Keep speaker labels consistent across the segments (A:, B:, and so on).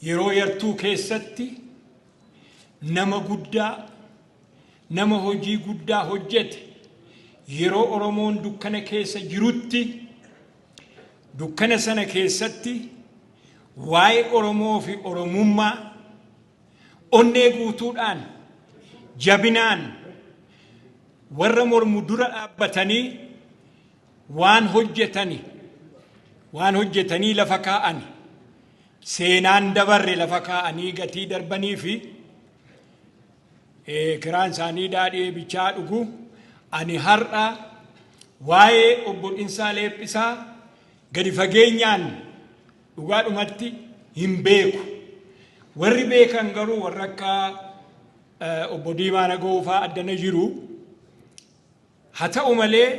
A: Yeroo yartuu keessatti nama guddaa, nama hojii guddaa hojjete, yeroo Oromoon dukkana keessa jirutti, dukkana sana keessatti waa'ee Oromoo fi Oromummaa onnee guutuudhaan, jabinaan warra mormu dura dhaabbatanii Waan hojjetani waan hojjetanii lafa kaa'ani seenaan dabarre lafa kaa'anii gatii darbanii fi kiraan isaanii daadhii bichaa dhugu ani har'a waa'ee obbo Dhinsaa Leephisaa gadi fageenyaan dhugaadhumatti hin beeku. Warri beekan garuu warra akka obbo Diimaa Nagoo fa'aa addana jiru. Haa ta'u malee,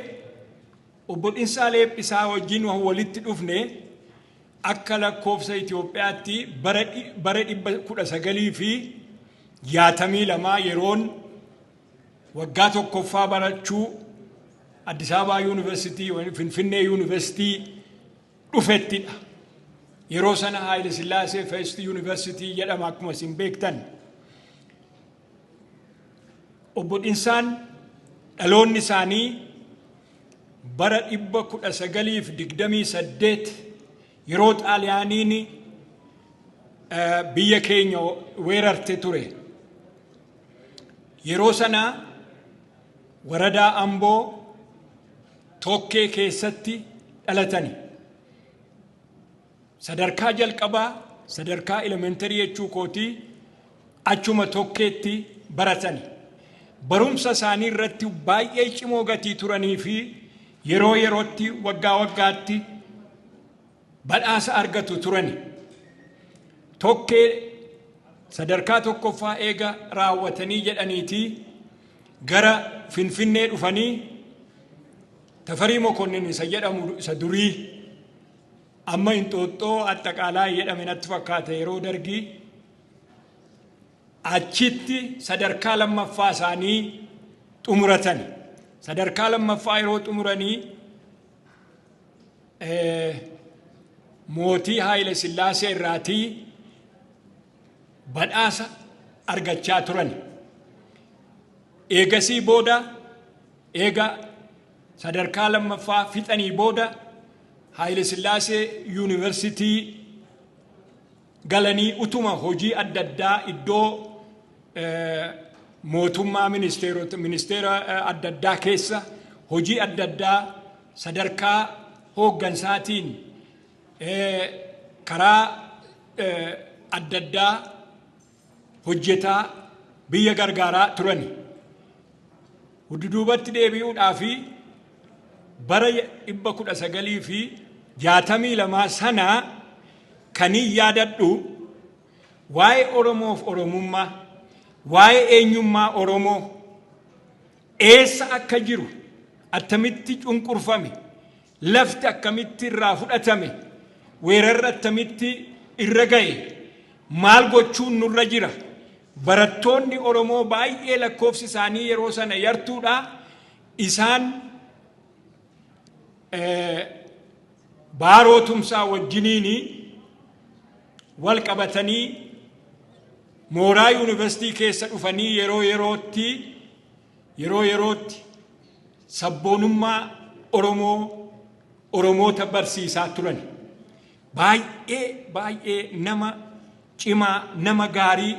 A: Obbo Dhinsaa Leephisaa wajjin wan walitti dhufne akka lakkoofsa Itoophiyaatti bara bara 1962 yeroon waggaa tokkoffaa barachuu Addis Ababaa Yuunivarsiitii Finfinnee Yuunivarsiitii dhufettidha. Yeroo sana Haayile Sillaasee Feest Yuunivarsiitii jedhama akkuma isin beektan. Obbo Dhinsaan dhaloonni isaanii bara 1928 yeroo Xaaliyaaniin biyya keenya weerarte ture. Yeroo sana waradaa Amboo tokkee keessatti dhalatani. Sadarkaa jalqabaa sadarkaa elementarii jechuu kooti achuma tokkeetti baratani. Barumsa isaanii irratti baay'ee cimoo gatii turanii fi yeroo yerootti waggaa waggaatti badhaasa argatu turani. Tokkee sadarkaa tokkoffaa eega raawwatanii jedhaniitii gara Finfinnee dhufanii Tafarii Mokonnin isa jedhamu isa durii Amma Inxooxxoo Axxaqaalaa jedhame natti fakkaata yeroo dargii achitti sadarkaa lammaffaa isaanii xumuratan. Sadarkaa lammaffaa yeroo xumuranii mootii Haayile Sillaasee irraatii badhaasa argachaa turani. Eegasii booda eega sadarkaa lammaffaa fixanii booda Haayile Sillaasee yuunivarsitii galanii utuma hojii adda addaa iddoo mootummaa ministeerota ministeera adda addaa keessa hojii adda addaa sadarkaa hooggansaatiin karaa adda addaa hojjetaa biyya gargaaraa turani. Hudduduubatti deebi'uudhaa fi bara dhibba kudha sagalii fi jaatamii lamaa sana kanii yaadadhu waa'ee Oromoof Oromummaa, waa'ee eenyummaa Oromoo eessa akka jiru attamitti cunqurfame Lafti akkamitti irraa fudhatame? Weerarri attamitti irra ga'e? Maal gochuun nurra jira? Barattoonni Oromoo baay'ee lakkoofsi isaanii yeroo sana yartuudha. Isaan baaroo tumsaa wajjiniin wal qabatanii mooraa yuunivarsiitii keessa dhufanii yeroo yerootti Yeroo yerootti sabboonummaa Oromoo Oromoota barsiisaa turani. Baay'ee baay'ee nama cimaa nama gaarii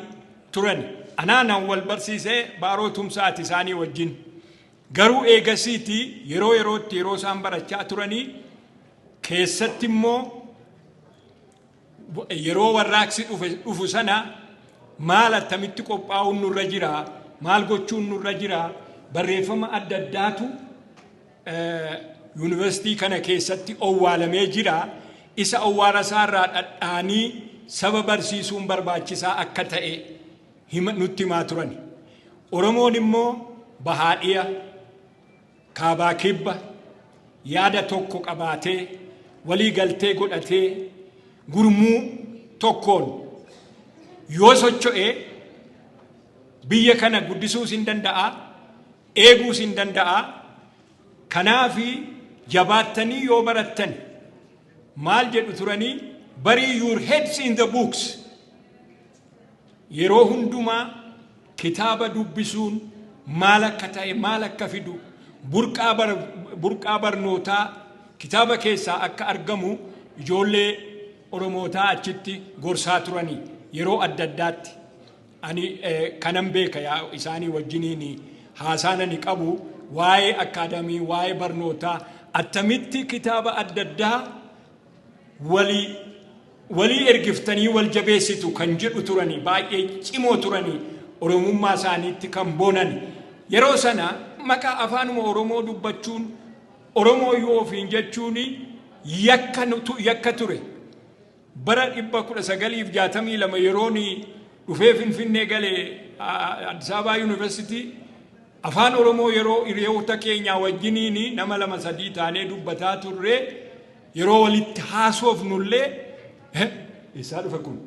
A: turani. Anaa nan wal barsiisee baaroo tumsaati isaanii wajjin. Garuu eegasiiti yeroo yerootti yeroo isaan barachaa turanii keessatti immoo Yeroo warraaqsi dhufu sana maal attamitti qophaa'uun nurra jira, maal gochuun nurra jira, barreeffama adda addaatu yuunivarsiitii kana keessatti owwaalamee jira. Isa owwaala isaa irraa dhadhaanii saba barsiisuun barbaachisaa akka ta'e nutti himaa turani. Oromoon immoo bahaadhiya Kaabaa Kibba yaada tokko qabaatee walii galtee godhatee gurmuu tokkoon yoo socho'e biyya kana guddisuus hin danda'a, eeguus hin danda'a. Kanaaf jabaattanii yoo barattan maal jedhu turanii bury your heads in the books. Yeroo hundumaa kitaaba dubbisuun maal akka ta'e, maal akka fidu, burqaa, bar, burqaa barnootaa kitaaba keessaa akka argamu ijoollee Oromootaa achitti gorsaa turani yeroo adda addaatti. Ani eh, kanan beeka yaa isaanii wajjiniin haasaan ani qabu waa'ee akkaadamii, waa'ee barnootaa attamitti kitaaba adda addaa walii walii ergiftanii wal jabeessitu kan jedhu turanii baay'ee cimoo turanii oromummaa isaaniitti kan boonan yeroo sana maqaa afaanuma oromoo dubbachuun oromoo yoo ofiin jechuun yakka nutu- yakka ture bara 1962 yeroon dhufee finfinnee gale a- Addis Ababaa Yuunivarsiitii afaan Oromoo yeroo hiriyoota keenyaa wajjiniin nama lama sadii taanee dubbataa turre Yeroo walitti haasoofnullee eessaa dhufe kun?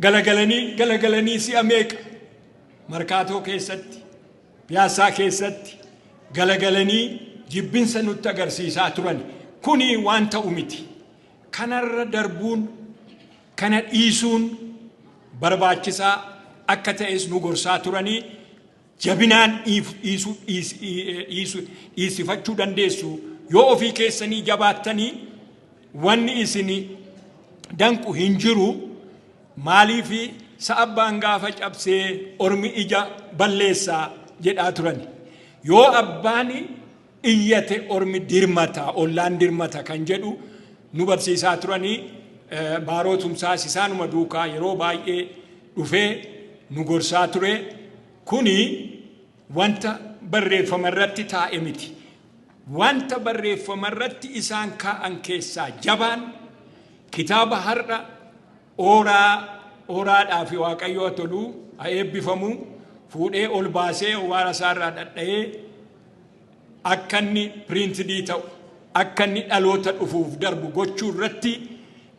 A: Galagalanii galagalanii si'a meeqa? Markaatoo keessatti, piyaassaa keessatti galagalanii jibbinsa nutti agarsiisaa turan. Kuni waan ta'u miti. Kanarra darbuun, kana dhiisuun barbaachisaa akka ta'es nu gorsaa turanii jabinaan dhiisifachuu dandeessu. Yoo ofii keessanii jabaattanii wanni isin danqu hin jiru. Maaliif sa'abbaan gaafa cabsee ormi ija balleessaa jedhaa turani. Yoo abbaan iyyate ormi dirmata, ollaan dirmata kan jedhu nu barsiisaa turanii Baaroo Tumsaas isaanuma duukaa yeroo baay'ee dhufee nu gorsaa ture. Kuni wanta barreeffama irratti taa'e miti. Wanta barreeffama irratti isaan kaa'an keessaa jabaan kitaaba har'a ooraa ooraadhaa fi waaqayyoo toluu haa eebbifamu fuudhee ol baasee waara isaarraa dhadha'ee akka inni piriintidii ta'u, akka inni dhaloota dhufuuf darbu gochuu irratti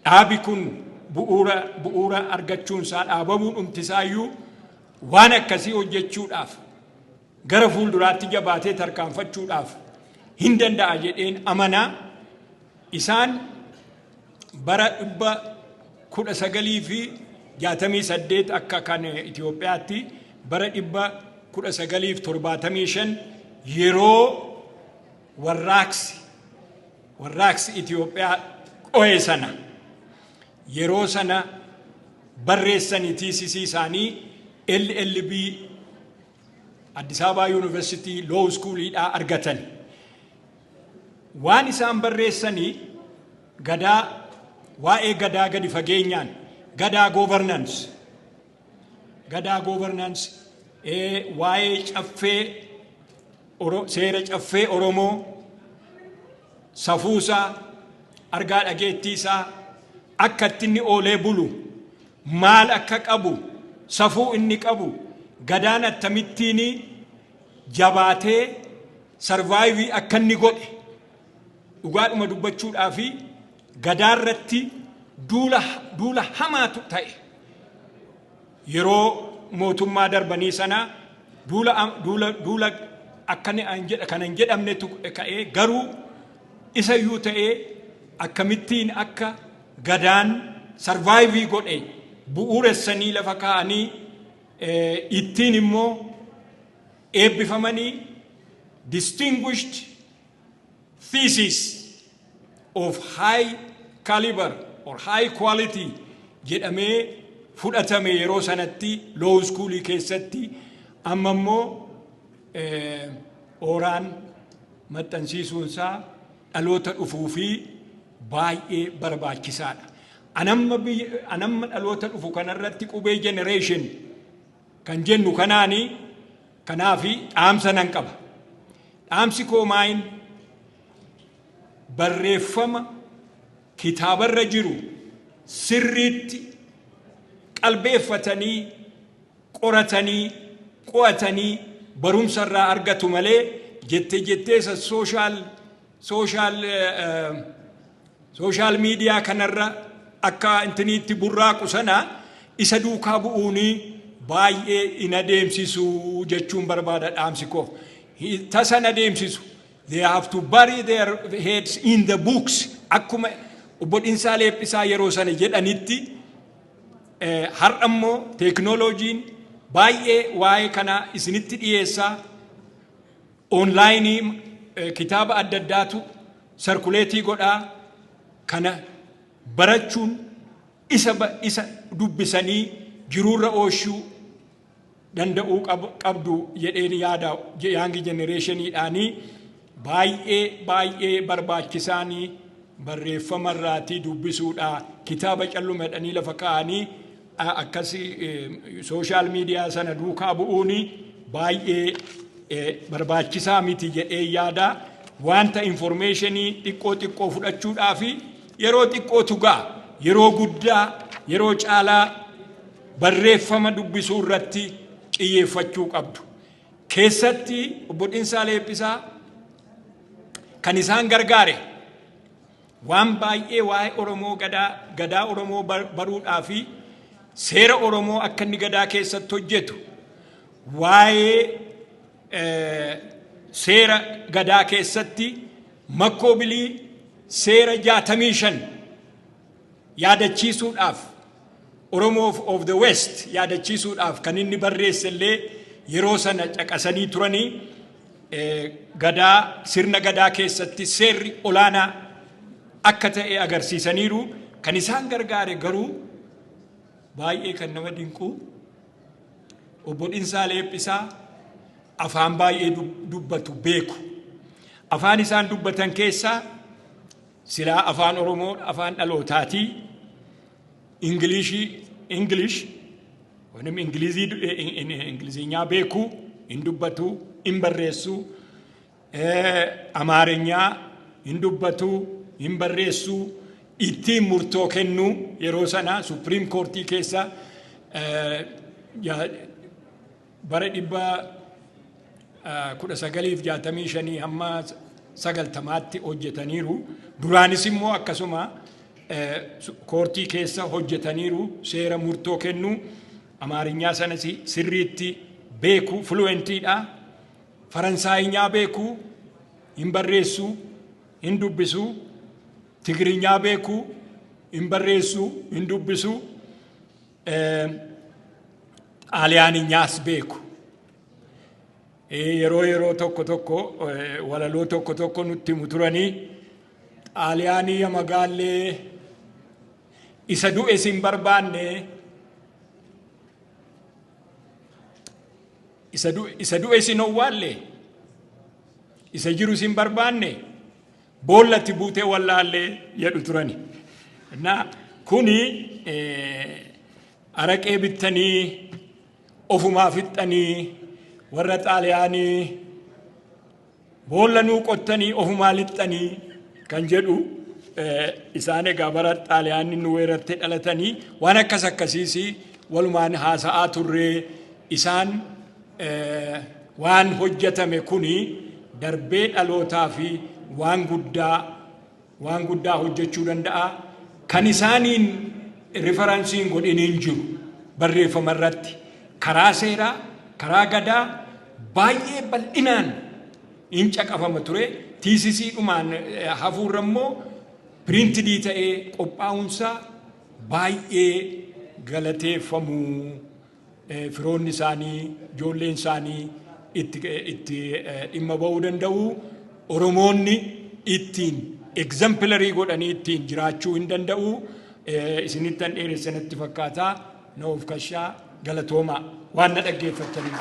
A: dhaabi kun bu'uura bu'uura argachuun isaa dhaabamuu dhumti isaayyuu waan akkasii hojjechuudhaaf gara fuulduraatti jabaatee tarkaanfachuudhaaf hin danda'a jedheen amanaa isaan bara 1968 akka kan Itoophiyaatti bara 1975 yeroo warraaqsi warraaqsi Itoophiyaa dho'e sana yeroo sana barreessanii tiisisii isaanii LLB Addis Ababaa Yuunivarsiitii Loow Iskuuliidhaa argatan. Waan isaan barreessani Gadaa, waa'ee Gadaa gadi fageenyaan, Gadaa Governance, Gadaa Governance, ee, waa'ee Caffee, Oro, seera Caffee Oromoo, safuusaa, argaa dhageettiisaa, akka itti inni oolee bulu, maal akka qabu, safuu inni qabu, Gadaan attamittiinii, jabaatee sarvaayivii akka inni godhe dhugaadhuma dubbachuudhaa fi gadaa irratti duula duula hamaatu ta'e. Yeroo mootummaa darbanii sana duula duula duula akka ni an jedha kan hin jedhamnetu ka'ee garuu isa iyyuu ta'ee akkamittiin akka gadaan sarvaayivii godhe bu'uuressanii lafa kaa'anii ittiin immoo eebbifamanii distinguished thesis of high caliber or high quality jedhamee fudhatame yeroo sanatti law school keessatti amma immoo ooraan maxxansiisuunsaa dhaloota dhufuu fi baay'ee barbaachisaadha. Anamma anamma dhaloota dhufu kanarratti qubee generation kan jennu kanaani kanaafi dhaamsa nan qaba. Dhaamsi koo maayin barreeffama kitaabarra jiru sirriitti qalbeeffatanii qoratanii qo'atanii barumsa irraa argatu malee jette jetteessa sooshaal Sooshaal sooshaal miidiyaa kanarra akka intiniitti burraaqu sana isa duukaa bu'uunii baay'ee hin adeemsisu jechuun barbaada dhaamsi koo. Hi- Tasa hin adeemsisu. They have to bury their heads in the books. Akkuma obbo Dhinsaa Leephisaa yeroo sana jedhanitti Eh, har'a immoo teeknooloojiin baay'ee waa'ee kanaa isinitti dhiyeessaa Onlaayinii kitaaba adda addaatu sarkuleetii godhaa kana barachuun isa isa dubbisanii jiruurra ooshuu danda'uu qabdu jedheen yaada yaangi jenereeshiniidhaanii baay'ee baay'ee barbaachisaanii barreeffamarraatii dubbisuudha kitaaba calluma jedhanii lafa kaa'anii akkasi sooshaal miidiyaa sana duukaa bu'uun baay'ee barbaachisaa miti jedhee yaada. Wanta informeeshinii xiqqoo xiqqoo fudhachuudhaa fi yeroo xiqqoo tugaa yeroo guddaa yeroo caalaa barreeffama dubbisuu irratti xiyyeeffachuu qabdu. Keessatti obbo Dhinsaa Leephisaa kan isaan gargaare Waan baay'ee waa'ee Oromoo Gadaa, Gadaa Oromoo baruudhaa fi seera Oromoo akka inni Gadaa keessatti hojjetu, waa'ee seera Gadaa keessatti makkoo bilii seera 65 yaadachiisuudhaaf, Oromoof of the West yaadachiisuudhaaf kan inni barreesse illee yeroo sana caqasanii turanii gadaa sirna gadaa keessatti seerri olaanaa akka ta'e agarsiisaniiru kan isaan gargaare garuu baay'ee kan nama dinqu obbo Dhinsaa Leephisaa afaan baay'ee dubbatu beeku afaan isaan dubbatan keessaa Silaa afaan Oromoo afaan dhalootaatii Ingiliishii English wanim Ingilizii Ingiliziinyaa beekuu hin dubbatuu hin barreessuu Amaarinyaa hin dubbatuu hin barreessuu ittiin murtoo kennuu yeroo sana Supreme Courtii keessa Bara 1965-90tti hojjetaniiru. Duraanis immoo akkasuma koortii keessa hojjetaniiru. Seera murtoo kennuu Amaarinyaa sanas sirriitti beeku, fuluwentiidha. Faransaayinyaa beeku, hin barreessu, hin dubbisu. Tigrinyaa beeku, hin barreessu, hin dubbisu. Xaaliyaanyaas beeku. Yeroo yeroo tokko tokko walaloo tokko tokko nutti himu turanii xaaliyaanii ya magaallee isa du'e sin barbaanne isa du'e sin owwaalle isa jiru sin barbaanne Boolla itti buutee wallaalle jedhu turani. Innaa kuni araqee bittanii ofumaa fixxanii warra xaaliyaanii boolla nuu qottanii ofumaa lixxanii kan jedhu isaan egaa bara xaaliyaanni nu weerartee dhalatanii waan akkas akkasiis walumaan haasa'aa turree isaan Waan hojjatame kuni darbee dhalootaaf waan guddaa waan guddaa hojjechuu danda'a. Kan isaaniin rifaransiin hin godhin hin jiru. Barreeffama irratti karaa seeraa, karaa gadaa baay'ee bal'inaan hin caqafama ture. Tiisisii dhumaan hafuurra immoo piriintidii ta'ee qophaa'uunsaa baay'ee galateeffamuu firoonni isaanii, ijoolleen isaanii itti itti dhimma ba'uu danda'u. Oromoonni ittiin egzampilarii godhanii ittiin jiraachuu hin danda'u. Isinittan dheeressa natti fakkaata. Na of kashaa galatoomaa waan na dhaggeeffattaniif.